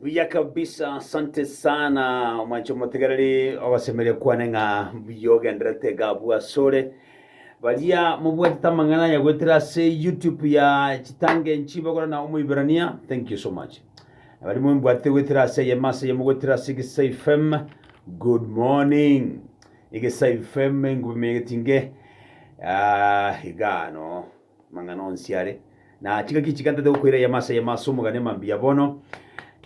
Buya kabisa, asante sana omwancho motegereri ogosemeria kwane ng'a mbuya ogenderete iga abwo asore baria mobwatete amang'ana aya goetera ase youtube ya chitange nchibogora na omoiberania thank you so much abari mombwatete goetera ase eyemo ase eyemo goetera ase egesai fm good morning egesai fm engubi megetinge ah, iga ano Amang'ana onsi are, na chingaki chigantate gokoira eyemo ase eyemo ase omogani e mambia bono.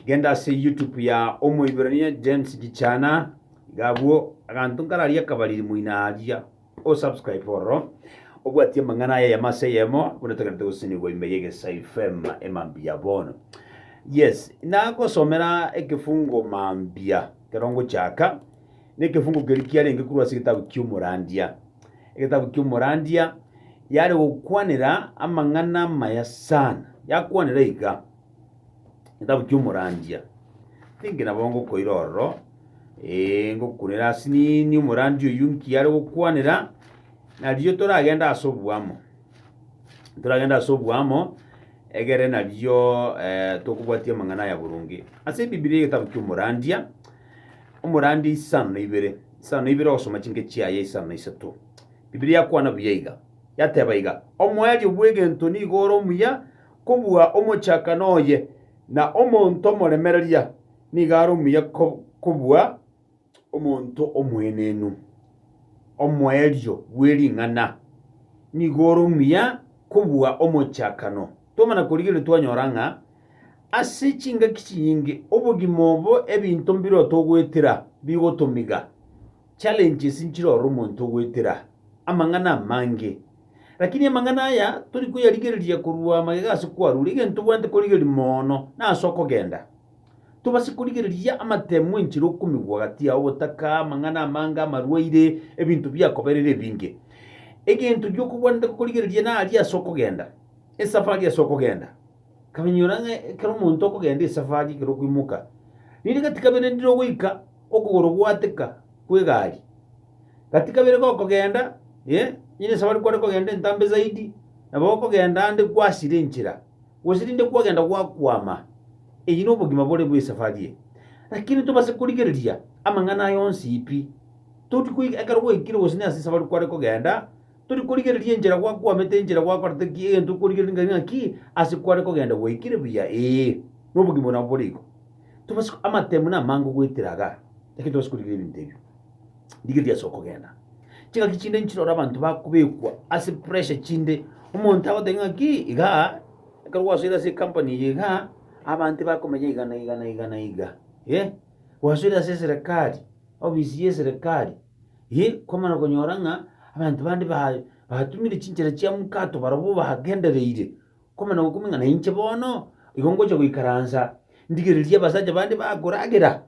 Genda ase YouTube ya Omoiberania James Gichana, iga abwo aganto nkararie akabariri moino aria, o subscribe ororo, obwatie amang'ana aya eyemo ase eyemo, buna togenderete gosesenigwa ime ya Egesai FM e mambia bono. Yes, nagosomera ekefungo mambia kero ngochaka. Nekefuko keria kiarenge korwa ase egetabu ki'Omorandia, egetabu ki'Omorandia, yare gokwanera amang'ana amaya sana, yakwanera iga, egetabu ki'Omorandia. Ninki nabo ngokoira ororo, eh, ngokunera ase nini Omorandia oyio nki are gokwanera, narirorio toragende ase oboamo, toragende ase oboamo, egere narirorio tokobwatia amang'ana aya boronge. Ase Ebibilia egetabu ki'Omorandia, Omorandia isano na ibere, isano na ibere ogosoma chinke chiaye isano na isato. Bibilia yakwana buya iga, yateba iga, Omoerio bw'egento nigo ore omuya kobua omochakano oye, na omonto omoremereria nigo are omuya kobua omonto omoenenu. Omoerio bwe ring'ana nigo ore omuya kobua omochakano. Twamana korigereria twanyora ng'a ase chingaki chinyinge obogima obo ebinto mbirotogoetera bigotomiga, challenges nchirore omonto ogoetera amang'ana amange. Lakini amang'ana aya tori koyarigereria korwa magega ase kwarure, egento tobwate korigereria mono nase okogenda. Tobase korigereria amatemo enchera okomigwa gati yao, obotaka, amang'ana amange, amarwaire, ebinto biakoberera ebinge. Egento giokobwanete gokorigereria nari ase okogenda. Esafari ase okogenda. Kamenyora ng'a ekero omonto okogenda esafari ekero okoimoka, rinde gati kabere ndire ogoika okogoro gwateka kw'egari. Gati kabere gokogenda, eh, onye nesafari kware kogenda entambe zaidi, nabo okogenda ande kwasira enchera, gose rinde kwagenda gwakwama. Eyio nobogima bore bw'esafari eye. Lakini tobase korigereria amang'ana aya onsi pi. Toti koika ekero gwaikire gose nase esafari kware kogenda. Tori korigereria enchera gwakwamete, enchera gwakorete ki, egento okorigereria ngaki ngaki, ase kware kogenda gwaikire buya, ee, na obogima obo nabwo bore igo. Tobasi, amatemu namange ogoetera iga, lakini tobasi korigereria ebinto ebio. Rigereria ase okogenda. Chingaki chinde nchirore abanto bakobekwa ase pressure chinde, omonto agoteba ngaki igaa, ekero gwasoire ase ecompany eye igaa, abanto bakomenya iga na iga na iga na iga, eh, gwasoire ase eserekari, ofisi ya eserekari. Ee, kwamana konyora ng'a abanto bande ba- batumire chinchera chia mokato barabwo bagendereire, kwamana gokumia ng'a nainche bono igo ngocha goikaransa ndigererie abasacha bande bakoragera.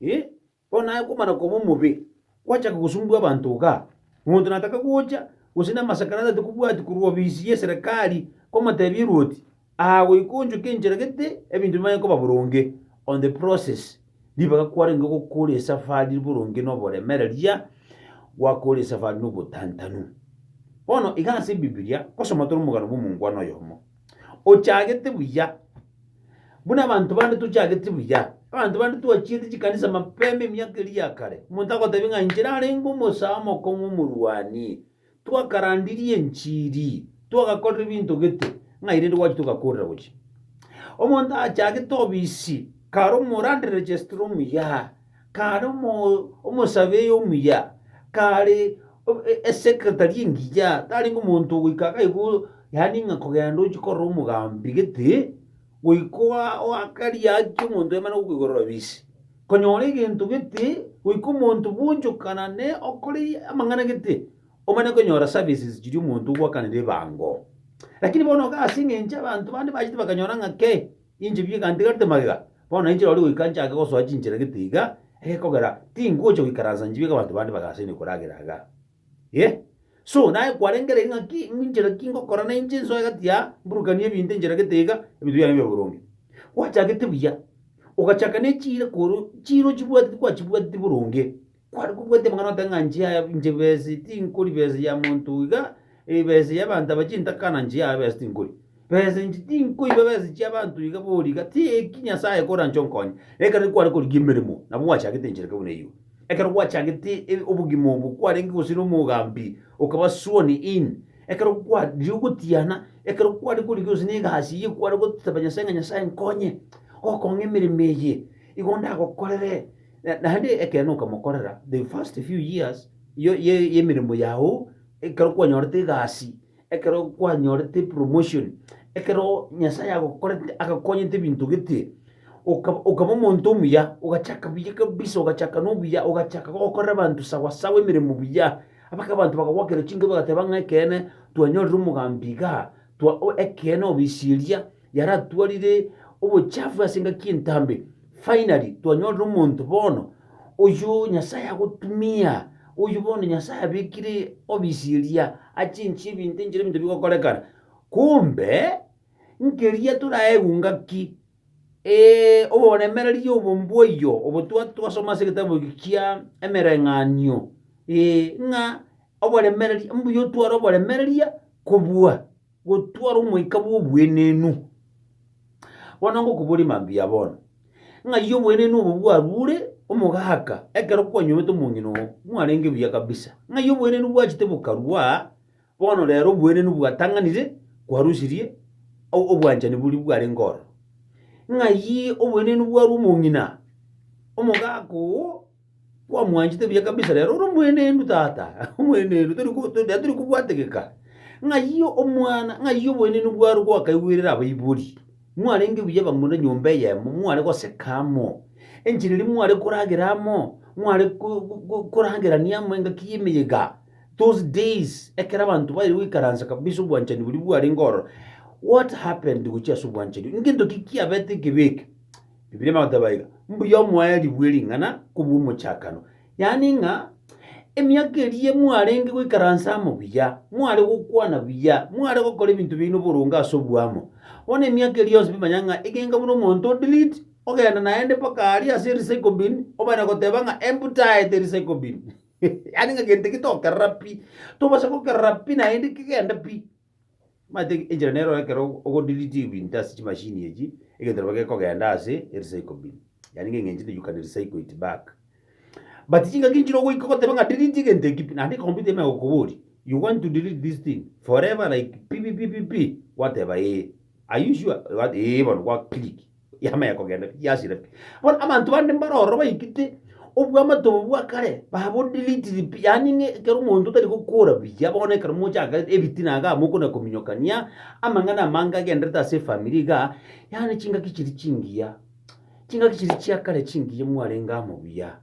Ee, bono naye kwamana koba omobe, gwachaka gosumbua abanto igaa. Omonto nataka gocha gose na amasakarati atakobwati korwa obisi y'eserekari, kwamotebia erwoti, Aa goika onchoke enchera gete ebinto bimanye koba boronge on the process ribaga kwarenge gokora esafari boronge noboremereria gwakora esafari nobotantanu. Bono iga ase ebibilia gosoma tore omogano bw'omongwana oyomo ochagete buya buna abanto bande tochageti buya. Abanto bande twachiete chikanisa mapema emiaka eria ya kare, omonto agotebi ng'a inche narenge omosaa omokong'u omorwani. Twakarandirie enchiri, twagakorera ebinto gete, ng'ai rende gwachi togakoorera gochia? Omonto achagete obisi, kare omorande registrar omuya, kare omo, omosurveyor omuya, kare o- e- esecretary engiya, tarenge omonto ogoika iga igo, yaani ng'a kogenda ochia korora omogambi gete, goika oa- oakaria haki omonto aye mana gokoigorera obisi. Konyora egento gete goika omonto bwonchokana ne okore amang'ana gete, omanye konyora services chiria omonto ogwakanera ebango. Lakini bono iga ase eng'encho abanto bande bachete bakanyora ng'a ke, inche bieka ntigarete magega, bono nainche rorio goika nchake gosoa chinchera gete iga, egekogera tingocha goikaransa nchibieka abanto bande bagasaine koragera iga. Ee. So, naye kwarengereiri ng'a ki, inchera ki ngokora na inche nsoe egati ya, mburukanie ebinto inchera gete iga, ebinto biane bibe boronge. Gwachagete buya, ogachaka ne chiira koro, chiira ochibwate tikwachibwateti boronge. Kware kobwati amang'ana ote ng'a nchia aya, inche besa eye tinkori, besa ya monto iga, ee besa ya abanto aba chintaka na nchia aya besa tinkori. Besa inche tinkoiba besa chi'abanto iga boria iga, ti eki Nyasae ekoranche onkonye. Ekero kware korigia emeremo, nabo gwachagete enchereke buna eyio. Ekero gwachagete e- obogima obo, kwarenge gose nomogambi, okaba sworn in. Ekero kwa riria ogotiana, ekero kware korigia gose negasi eyio kware goteba Nyasae ng'a Nyasae nkonye, gokong'a emeremo eye, igo ndagokorere, na- naende ekeene okamokorera the first few years ye- ye- y'emeremo yago, ekero kwanyorete egasi, Ekero kwanyorete promotion, ekero Nyasaye agokorete agakonyete ebinto gete, okaba okaba omonto omuya, ogachaka buya kabisa ogachaka nobuya, ogachaka gokorera abanto sawa sawa emeremo buya, mpaka abanto bakagoakera chinkoro bagateba ng'a ekeene twanyorire omogambi igaa, twa ekeene obisiria. yaratwarire obochafu ase engaki y'entambe. Finally, twanyorire omonto bono, oyio Nyasae agotumia, oyio bono Nyasae abekire obisi eria achinchie ebinto enchera ebinto bigokorekana. Kumbe, nkeria toraegwe ngaki, ee, oboremereria obo mbw'oyio obo twa- twasoma ase egetabu eke kia Emereng'anio, ee, ng'a oboremereria, mbuya otware oboremereria kobua. Gotwara omoika bw'oboenenu. Bono ngokoboria mambia bono, ng'ai oboenenu obo bwarure omogaka ekero kwanyomete omong'ina oo mwarenge buya kabisa? Ng'ai oboenenu bwachete bokarua bono rero oboenenu bwatang'anire kwarusirie o- obwanchani boria bwarenge ororo? Ng'ai oboenenu bwarua omong'ina omogaka oo Kwamwanchete buya kabisa rero ore omoenenu tata omoenenu tori ko- to- tori kobwategeka ng'ai omwana ng'ai oboenenu bwaro gwakaigwerere abaibori mwarenge buya bamura nyomba eyemo mware goseka amo enchera eria mware koragera amo mware ko- ko- ko- koragerania amo engaki y'emeyega those days ekero abanto baire goikaransa kabisa obwanchani boria bwarenge ororo what happened gochia ase obwanchani ngento ki kiabete ekebe eke. Bibilia ime goteba iga, Mbuya omoerio bwe ring'ana kobua omochakano. Yaani ng'a emiaka eria mwarenge goikaransa amo buya, mware gokwana buya, mware gokora ebinto biaino boronge ase oboamo. Bono emiaka eria yonsi bimanya ng'a egenga buna omonto o delete, ogenda naende mpaka aria ase erecycle bin, obana goteba ng'a emptaete erecycle bin. Yaani ng'a gento eke tokerora pi, tobasa gokerora pi naende kegende pi. Omanyete enchera nero ekero o- ogodeletiwa into ase chimachine echi, egento nabo gekogenda ase erecycle bin, yaani ng'a eng'encho inde you can recycle it back. But chingaki nchire ogoika ogoteba ng'a delete egento eke pi, naende ecomputer ime egokoboria, you want to delete this thing forever like pi pi pi pi pi, gwateba ee, are you sure? Eba- ee bono gwa click, Yama ya kogenda pi? Yasira pi? Bono abanto bande mbare ororo baikete obwamato obo bwa kare babodelitiri pi, yaani ng'a ekero omonto tari gokora buya bono ekero mochakete ebitina iga mokona kominyokania amang'ana amange agenderete ase efamiri iga, yaani chingaki chiria chingiya, chingaki chiria chia kare chingiya mwarenge amo buya.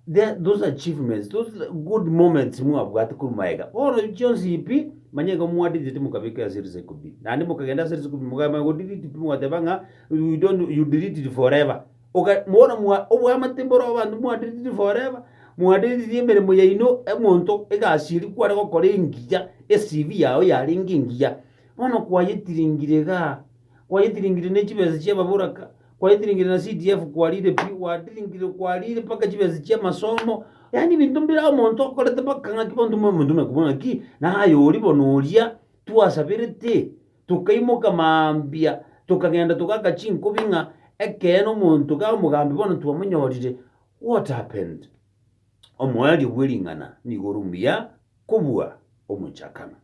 The, those achievements, those good moments mwabwate korwa maega, bono chionsi pi, manya igo mwa delete mokabeka ase recycle bin. Naende mokagenda ase recycle bin mokamanya go delete pi mogateba ng'a you don't, you delete it forever. Oka, bono mwa, oboamate mboro abanto mwa delete forever, mwa delete emeremo yaino, omonto egasi eria kware gokora engiya, eCV yao yarenge engiya, bono kwayetiringire igaa. kwayetiringirie ne chibesa chia ababoraka, kwayetiringirie na CDF kwarire pi, gwatiringirie kwarire mpaka chibesa chia amasomo, yaani ebinto mbire aye omonto okorete mpaka ng'aki bono timoba omonto buna kobua ng'aki, naye aye oria bono oria twasaberete, tokaimoka mambia, tokagenda togaaka chinkobi ng'a ekeene omonto iga omogambi bono twamonyorire, what happened? Omoerio bw'ering'ana nigo ore omuya kobua omochakano,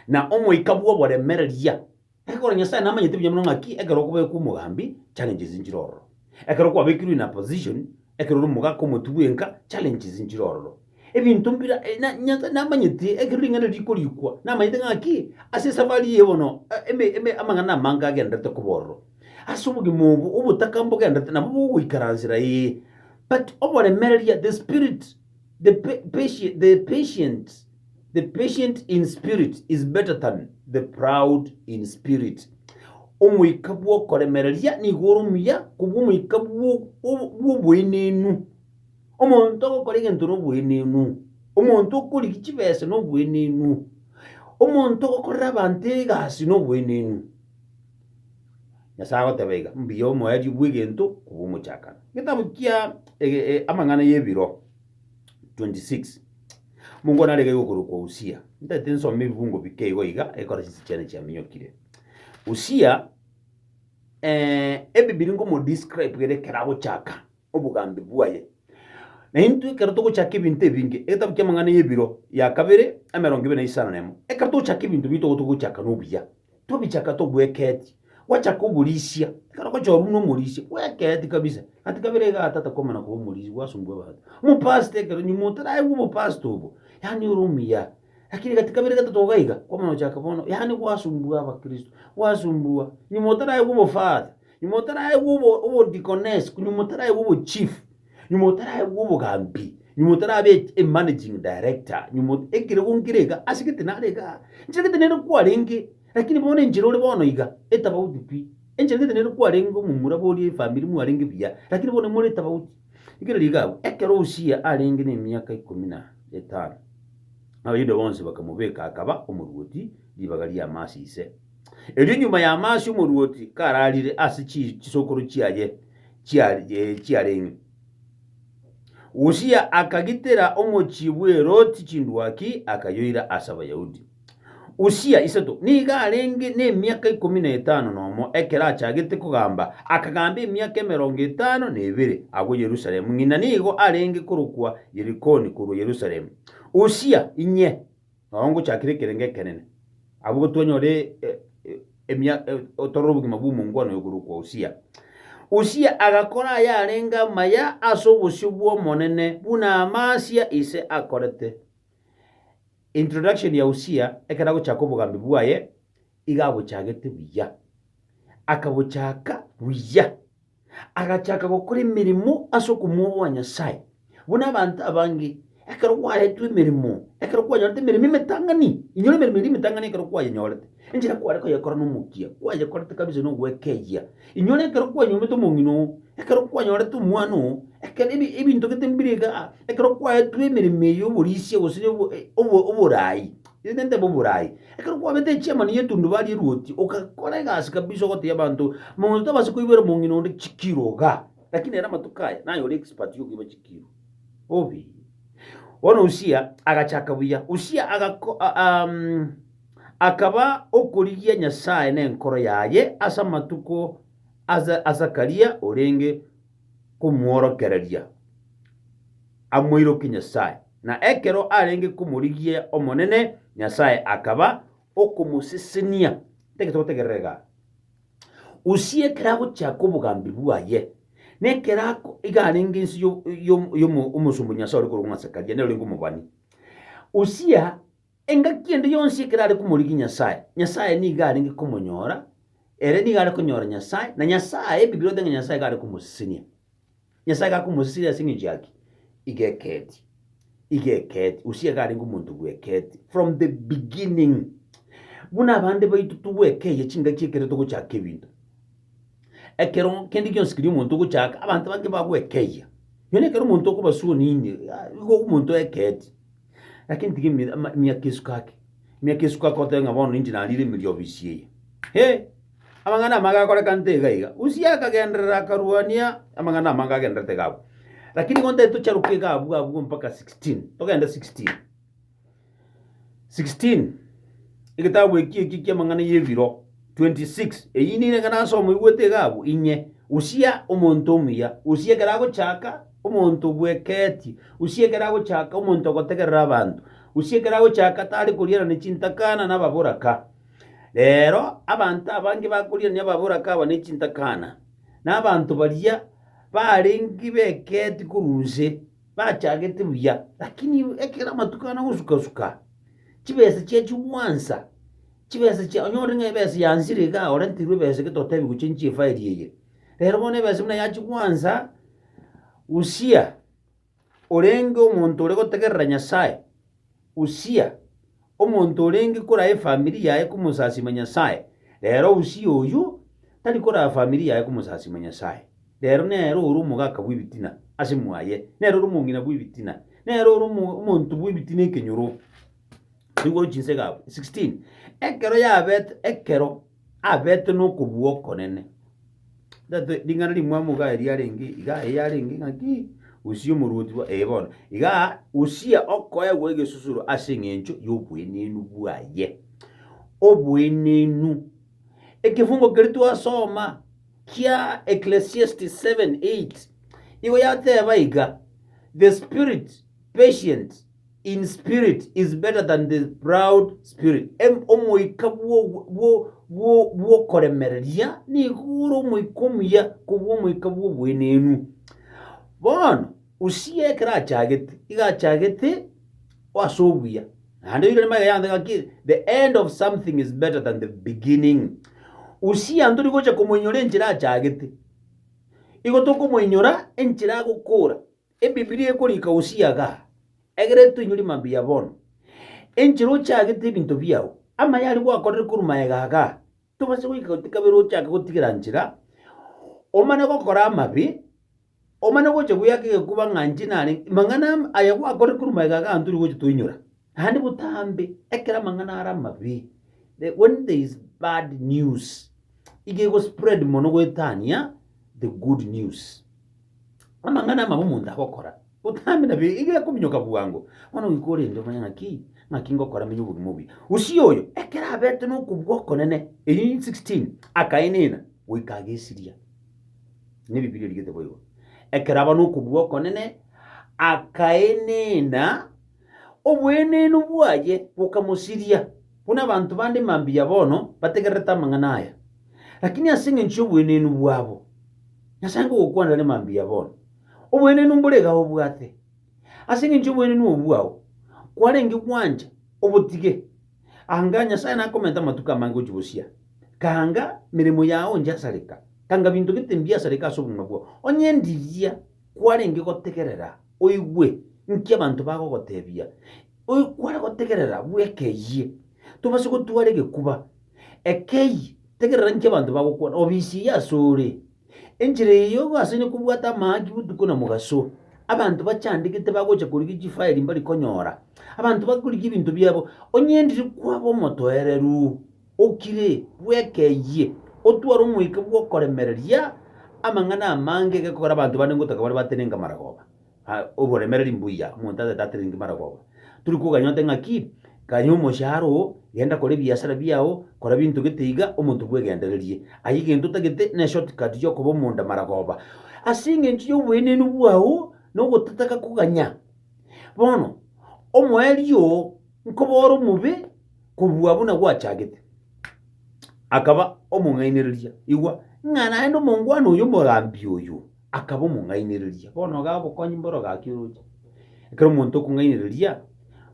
na omoika bw'oboremereria. Ekero Nyasae namanyete buya mono ng'aki ekero okobekwa omogambi, challenges nchire ororo. Ekero kwabekirwe in a position, ekero ore omogaka omotwe bwenka, challenges nchire ororo. Ebinto mbira, eh, na, Nyasae namanyete, ekero ring'ana erio rikorikwa, namanyete ng'aki, ase esafari eye bono, eh, eme, eme, amang'ana amange agendererete koba ororo. Ase obogima obo, obotaka mbogendererete nabo bogoikaransera, ee, but oboremereria, the spirit, the pa, patie, the patient. The patient in spirit is better than the proud in spirit, Omoika bw'okoremereria nigo ore omuya kobua omoika bw'o- o- bw'oboenenu. Omonto ogokora egento noboenenu, omonto okorigia chibesa noboenenu, omonto ogokorera abanto egasi noboenenu. Nyasae agoteba iga, mbuya omoerio bw'egento kobua omochakano. Getabu kia ege- e- Amang'ana y'Ebiro. 26 Mungu narege iga okorokwa Usia. Ntaete nsome ebibungo bike igo iga, ekero chinse chiane chiaminyokire. Usia, eh, ebi biri ngomodescribe ere ekero agochaka obogambi bwaye. Na intwe ekero togochaka ebinto ebinge, egetabu ki'amang'ana y'ebiro ya kabere, emerongo ebere na isano na emo, ekero togochaka ebinto bito igo togochaka nobuya. Tobichaka tobwekeeti, gwachaka oborisia, ekero ogocha orure na omorisia, bwekeeti kabisa. Gati kabere igaa tata komana koba omorisia gwasumbwa abanto. Omopastor ekero nyuma otaraigwa obopastor obo, yaani ore omuya, lakini gati kabere gatato iga iga, kwamana gochaka bono, yaani gwasumbwa abakristo, gwasumbwa, nyuma otaraigwa obofather, nyuma otaraigwa obo obodeaconess, nyuma otaraigwa obochief. nyuma otaraegwa obogambi, nyuma otarabeti e managing director, nyuma ot- ekere gonkire iga, ase gete nare iga, enchera gete nere kwarenge, lakini bono enchera ore bono iga, etabauti pi, enchera gete nere kwarenge omomura boria efamiri mwarenge buya, lakini bono more etabauti. Rigereria iga abwo, ekero Usia arenge nemiaka ikomi na etano, Abayuda bonsi bakamobeka akaba omoruoti ribaga ria Amasi ise. Erio nyuma y'Amasi omoruoti kararire ase chi- chisokoro chiaye, chiarenge. Usia akagitera omochie bw'Heroti chindwaki, akayoira ase Abayahudi. Usia isato nigo arenge nemiaka ikomi na etano nomo ekero achagete kogamba, akagamba emiaka emerongo etano na ebere agwo Yerusalemu, ng'ina nigo arenge korokwa Yerikoni korwa Yerusalemu. Usia inye. Nonya ongochakire ekerengo ekenene, abwo gotwanyore emia otorore obogima bw'omongwana oyo korokwa Usia. Usia agakora ayarenge amaya ase obosio bw'Omonene, buna Amasia ise akorete. Introduction ya Usia ekero agochaka obogambi bwaye, iga abochagete buya. Akabochaka buya. agachaka gokora emeremo ase okomworwa Nyasae, buna abanto abange ekero kwaetwe emeremo, ekero kwanyorete emeremo emetang'ani, inyora emeremo eria emetang'ani ekero kwayenyorete, enchera kware koyekora nomokia, kwayekorete kabisa na ogwekeyia. Inyora ekero kwanyomete omong'ina oo, ekero kwanyorete omwana oo, ekero ebi ebinto gete mbire igaa, ekero kwaetwe emeremo eye y'oborisia gose obo oboraai. Inche ntebe oborai. Ekero kwabete echiamani y'etundubari erwoti, ogakora egasi kabisa ogoteebia abanto, Mamaguta tobasa koiboera omong'ina onde chikiro iga, lakini ere amatuko aya naye ore expert y'okoiba chikiro. Obe. Bono Usia agachaka buya. Usia agako, a- a- um, akaba okorigia Nyasae nenkoro yaye ase amatuko a Za- a Zakaria orenge komworokereria amoiroke Nyasae. Na ekero arenge komorigia Omonene Nyasae akaba okomosesenia. Tege togotegerera igaa. Usia ekero agochiaka obogambi bwaye, na ekero ako iga arenge inse y'o- y'o- y'omo- omosomba o Nyasae ore korokwa ng'a Zekaria, nere orenge omobani. Usia Engaki ende yonsi ekerare komorigia Nyasae, Nyasae nigo arenge komonyora, ere nigo are konyora Nyasae, na Nyasae, Ebibilia egoteba ng'a Nyasae igo are komosesenia. Nyasae igo akomosesenia ase eng'encho y'aki? Igo eketi. Igo eketi. Usia iga arenge omonto bw'eketi. From the beginning. Buna abande baito togwekeyia chingaki ekero togochaka ebinto. Ekero kende gionsi keria omonto ogochaka, abanto bange bagwekeyia. Nonya ekero omonto okobasua onini, ah, igo omonto eketi. Lakini tiga emi- ama- emiaka esuko ake emiaka esuko ake otoe ng'a bono ninche narire emeriobi esie eye Hee! Amang'ana amage akorekanete iga iga. Usia akagenderera akaruania amang'ana amange agendererete iga abwo. Lakini igo ntari tocharoke iga abwo abwo mpaka 16, togende 16. 16, egetabu eki eki ki'amang'ana ya ebiro, 26, eyio nigo nere ng'a nasoma oigwete iga abwo, inye, Usia, omonto omuya, Usia ekero agochaka. Omonto obweketie, usi ekero agochaka, omonto ogotegerera abanto, usi ekero agochaka tari korianania chintakana nababoraka. Rero abanto abange bakorianania ababoraka aba ne chintakana, na abanto baria barenge beketie korwa inse bachagete buya, lakini ekero amatuko ane agosuka-suka, chibesa chiachio gwansa, chibesa chia onye ore ng'a ebesa yansire iga orenterwe ebesa iga totebi gochia inche efairi eye, rero bono ebesa buna yachia gwansa. Usia, orenge omonto ore gotegerera Nyasae, Usia, omonto orenge kora efamiri yaye komosasima Nyasae, rero Usia oyio tari kora efamiri yaye komosasima Nyasae, rero nere ore omogaka bw'ebitina ase mwaye, nere ore omong'ina bw'ebitina, nere ore omo- omonto bw'ebitina ekenyoro. Rigoru chinsegaabu 16 Ekero yabete, ekero. abete nokobua okonene. Tato ring'ana rimwamo iga eria arenge iga eye arenge ng'aki Usia omorwoti bwa ee bono. Iga Usia okoegwa egesusuro ase eng'encho y'oboenenu bwaye. Oboenenu. Ekefungo keria twasoma kia Ecclesiastes 7:8 igo yateba iga, The spirit patient in spirit is better than the proud spirit, Em- omoika bw'ogo- bwo- bwo- bw'okoremereria nigo ore omoika omuya kobua omoika bw'oboenenu. Bono Usia ekero achagete, iga achagete ase obuya. Naende oirane magega yonsi ng'aki, the end of something is better than the beginning. Usia ntori gocha komoinyora enchera achagete, igo tokomoinyora enchera agokora. Ebibilia ekorika Hosea igaa, Egere toinyore mambia bono, enche rochagete ebinto biao, amaye aria gwakorire korwa magega igaa, tobase goika gati kabere ochake gotigera nchera, omane gokora amabe, omane gocha gweaka egekuba ng'a inche narenge, mang'ana aya gwakorire korwa magega igaa ntori gocha toinyora. Naende botambe ekero amang'ana are amabe, the, when there is bad news, iga egospread mono goetania the good news. Amang'ana amabe omonto agokora, botambe nabo iga ekominyoka bwango. Bono goika orende omanye ng'aki, ng'aki ngokora menye obogima obuya. Usia oyo, ekero abete nokobua okonene, eyio in 16, akaenena, goika agesiria. Na Ebibilia erigete boigo. Ekero aba nokobua okonene, akaenena, Oboenenu bwaye bokamosiria, buna abanto bande mambia bono bategererete amang'ana aya. Lakini ase engencho y'oboenenu bwabo, Nyasae nkogokwanera are mambia bono. Oboenenu mbore iga obwate. Ase engencho y'oboenenu obwo bwao, kwarenge gwancha, obotige. Anga Nyasae nakomenta amatuko amange gochia bosio. Kanga meremo yao nchasareka. Kanga binto gete mbiasareka ase obong'ina bwao. Onye ndiria kwarenge gotegerera, oigwe nki abanto bagogotebia, oigwe kware gotegerera bweka eyie, tobase gotwara egekuba ekei, tegerera nki abanto bagokwana, obisirie asore. Enchera eye yoigo ase ne kobwata amahaki botuko na mogaso, abanto bachandegete bagocha korigia chifairi mbari konyora, abanto bakorigia ebinto biabo, onye ndiri kwaba omotoereru. Okire, bwekeyie, otware omoika bw'okoremereria amang'ana amange gekogera abanto bande ngotaka bare batenenke amaragoba. A Oboremereri mbuya, omonto atete atenenki maragoba. Turi koganya ote ng'aki, Ganya omoshahara oo, genda kora ebiasara biao, kora binto gete iga, omonto bwegendererie. Aye egento otagete ne shortcut y'okoba omonda maragoba. Ase engencho y'oboenenu bwao na ogotataka koganya, bono, omoerio oo, nkoba ore omobe, Kobua buna gwachagete, akaba omong'ainereria. Igwa, ng'a naende omongwana oyo omogambi oyo akaba omong'ainereria. Bono iga obokonyi mboro gaki oroche. Ekero omonto okong'ainereria,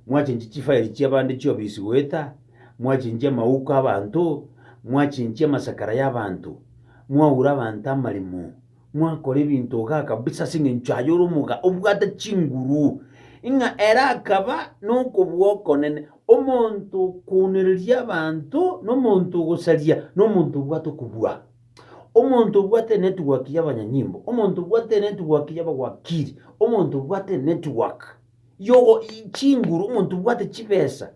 mwachenchi chifairi chi'abande chi'obisi goeta, mwachenchi amauko abanto, mwachenchi amasakara y'abanto, mwaura abanto amaremo, Mwakora ebinto igaa kabisa ase engencho aye ore omoga obwate chinguru, ing'a ere akaba nokobua okonene, omonto okounereria abanto, na omonto ogosaria, na omonto obwate okobua, omonto obwate enetwork y'abanyanyimbo, omonto obwate enetwork y'abawakiri, omonto obwate enetwork yogo chinguru, omonto obwate chibesa,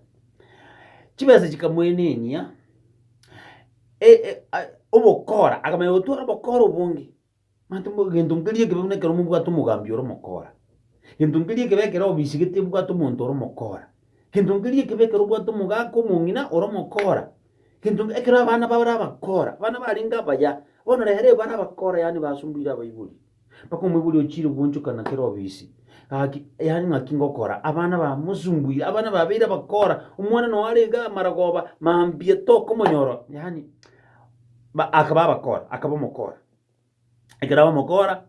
chibesa chikamoenenia. obokora, akamanya gotwara obokora obonge. Manyete mbu egento nkeria ekebe buna ekero mobwate omogambi ore omokora, egento nkeria ekebe ekero obisigete obwate omonto ore omokora, egento nkeria ekebe ekero obwate omogaka omong'ina ore omokora, egento nk ekero abana bare abakora, abana barenge abaya, bono rero ebare abakora yaani basumbuire abaibori. Mpaka omoibori ochiire gwanchokana kera obisi. Gaki, yaani ng'aki ngokora, abana ba mosumbuire, abana babeire abakora, omwana noe are iga amaragoba, mambia tokomonyora, yaani ba- akaba abakora, akaba omokora. Ekero aba omokora,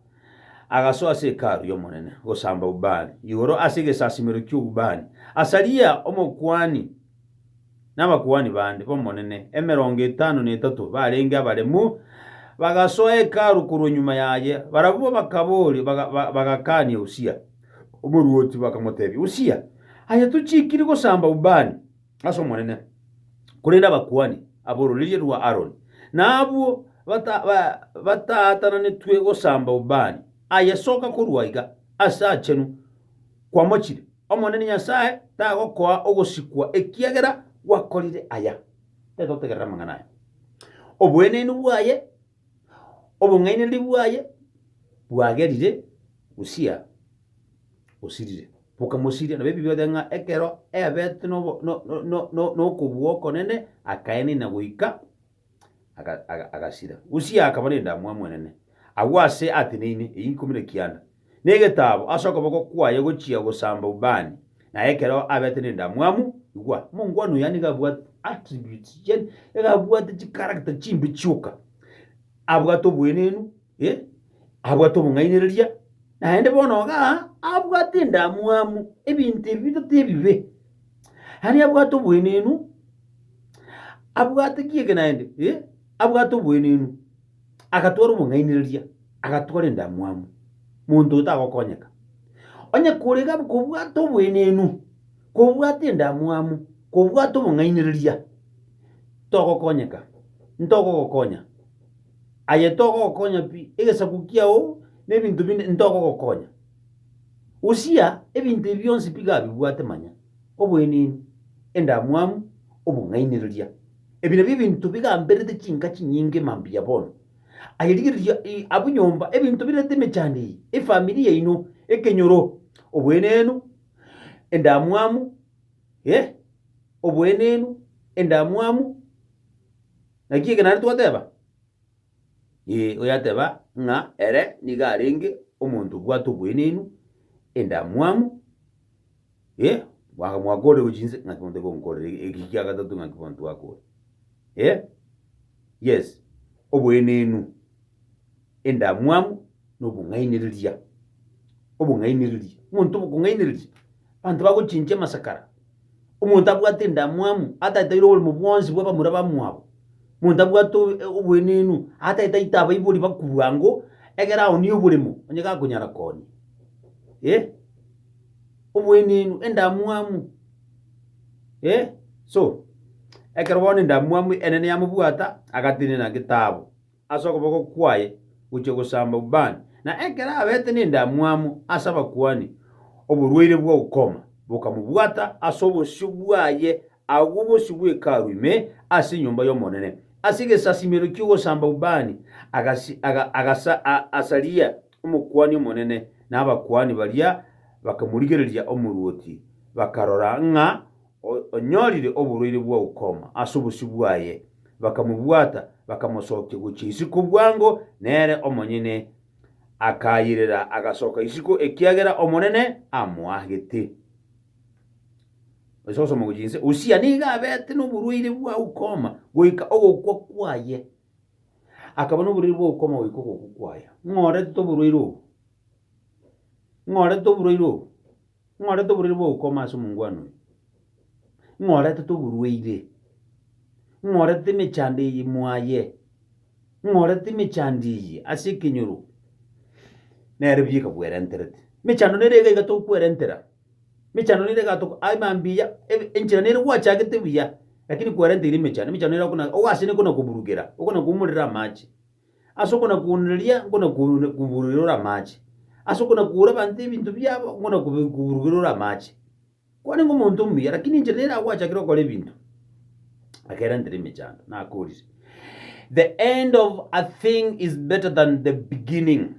agasoa ase Hekalu y'Omonene gosamba ubani igoro ase egesasimero ki'ubani. Asaria omokuani. nabakuani bande b'Omonene emerongo etano na etato barenge abaremu, bagasoa Hekalu korwa nyuma yaye. Barabwo bakaboria, bagakania Usia. Omoruoti bakamotebia, Usia, aye tochiikiri gosamba ubani ase Omonene, korende abakuani ab'ororeria rwa Aroni nabwo bataatananetwe gosamba ubani aye soka korwa iga ase aachenu kwamochire. Omonene Nyasae tagokoa ogosikwa ekiagera gwakorire aya. Tetotegerera amang'ana aya. Oboenenu bwaye, obong'ainereria bwaye bwagerire gosira osirire. Bokamosiria nabebibe bateba ng'a ekero eabete nokobua okonene akaenena goika aga- aga- agasira. Usia akaba nendamwamu enene agwo aase ateneine eyio ikomi na kianda, na egetaabo ase okoboko kwaye gochia gosamba ubani, na ekero abete nendamwamu, igwa, omongwana oyo nigo abwate attributes, yaani nigo abwate chicharacter chimbe chioka, abwate obweneenu, Eh, abwate obong'ainereria, naende bono iga abwate endamwamu, ebinto ebi bitato ebibe. Yaani abwate obwenenu, abwate ki eke naende, eh, abwate obwenenu, agatwara obong'ainereria, agatwara endamwamu, monto oyo tagokonyeka. Onye korega kobwata obwenenu, kobwata endamwamu, kobwata obong'ainereria, togokonyeka, ntogogokonya. Aye togogokonya pi, egesaku kiao na ebinto binde ntogogokonya. Usia ebinto ebi bionsi piga abibwate manya, obwenini, endamwamu, obong'ainereria. Ebi nabio ebinto bigamberete chinka chinyinge mambia bono. Aye rigereria i- abwo nyomba, ebinto birente emechando eye, efamiri yaino, ekenyoro, obwenenu, endamwamu, eh, obwenenu, endamwamu, Naki ekenare twateba, Ee, oyateba ng'a ere nigo arenge omonto obwate oboenenu, endamwamu, ee, mwaka mwakorerwe chinse, ng'aki bono tekonkorera e- eki kia gatato ng'aki bono twakore, ee, yes, oboenenu, endamwamu, na obong'ainereria, obong'ainereria, omonto okong'ainereria. Abanto bagochinchia amasakara, omonto abwate endamwamu ataetaire oborimo bwonsi bw'abamura bamwabo, omonto abwate oboenenu ataetaite abaibori bakubua ng'o ekero aoonie oboremo onye gakonyara koonia. Eh, oboenenu, endamwamu, eh, so ekero bono endamwamu enene yamobwata agatenena getaabo. ase okoboko kwaye gochia gosamba ubani, na ekero abeete nendamwamu ase abakuani, oborwaire bwa ukoma bokamobwata ase obosio bwaye agwo bosio bw'Hekalu ime ase enyomba y'Omonene. Ase egesasimero ki'ogosamba ubani Asaria omokuani omonene na abakuani baria bakamorigereria omorwoti, bakarora ng'a onyorire oborwaire bwa ukoma ase obosio bwaye, bakamobwata, bakamosokia gochia isiko bwango, nere omonyene akairera agasoka isiko ekiagera Omonene amoagete. Usia nigo abete noborwaire bwa ukoma goika ogokwa kwaye. Akaba noborwaire bwa ukoma goika ogokwa kwaye. Ng'a oretete oborwaire obo? Ng'a oretete oborwaire obo? Ing'orete oborwaire bw'ogokoma ase omongwana oyo, ing'oretete oborwaire, ing'oretete emechando eye mwaye, ing'oretete emechando eye ase ekenyoro, nere ebiya ekakwerenterete. Emechando nere iga iga togokwerentera, emechando nere iga toko aye mambia ebe enchera nere gwachagete buya, lakini kwerenteire emechando, emechando nere okona ogo ase nere ekona koburugera, okona koumorera amache. Ase okonakuunereria nkonakuburugera ore amache, ase okonakuura abanto ebinto biabo nkonakuburugera ore amache. Kwarenge omonto omuya, lakini enchera nere agwachakire okora ebinto, akerantere emechando, nakorire. The end of a thing is better than the beginning.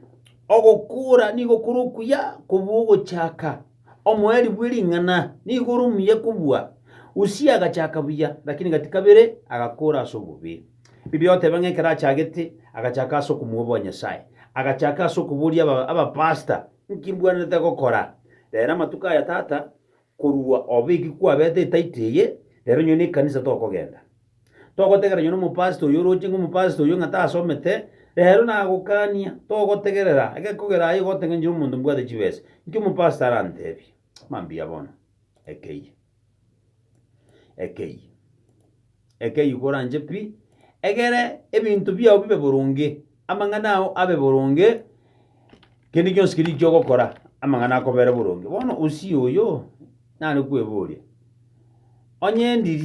Ogokuura nigo kore okuya kobua ogochaka. Omoerio bw'ering'ana nigo ore omuya kobua. Usia agachaka buya, lakini gati kabere agakuura ase obobe. Bibi oteba ng'a ekero achagete, agachaka ase okomoboa Nyasae. Agachaka ase okoboria aba, abapasta, Nki mbwenerete gokora? Rero amatuko aya tata, korwa obeki kwabete etaito eye, rero nyoo nekanisa tokogenda. Togotegerera nyoo nomopasta oyo oroche ng'a omopasta oyo ng'a tasomete, rero nagokania. Togotegerera, egekogera aye igoteng'enchera omonto mbwate chibesa. Nki omopasta arantebie? Mambia bono, ekeiyo. ekeyio. Ekeyio koranche pi, egere ebinto biao bibe boronge, amang'ana ao abe boronge, kende gionsi keria ekio ogokora, amang'ana akobere boronge. Bono usie oyo, nare kweboria, onye ndiri.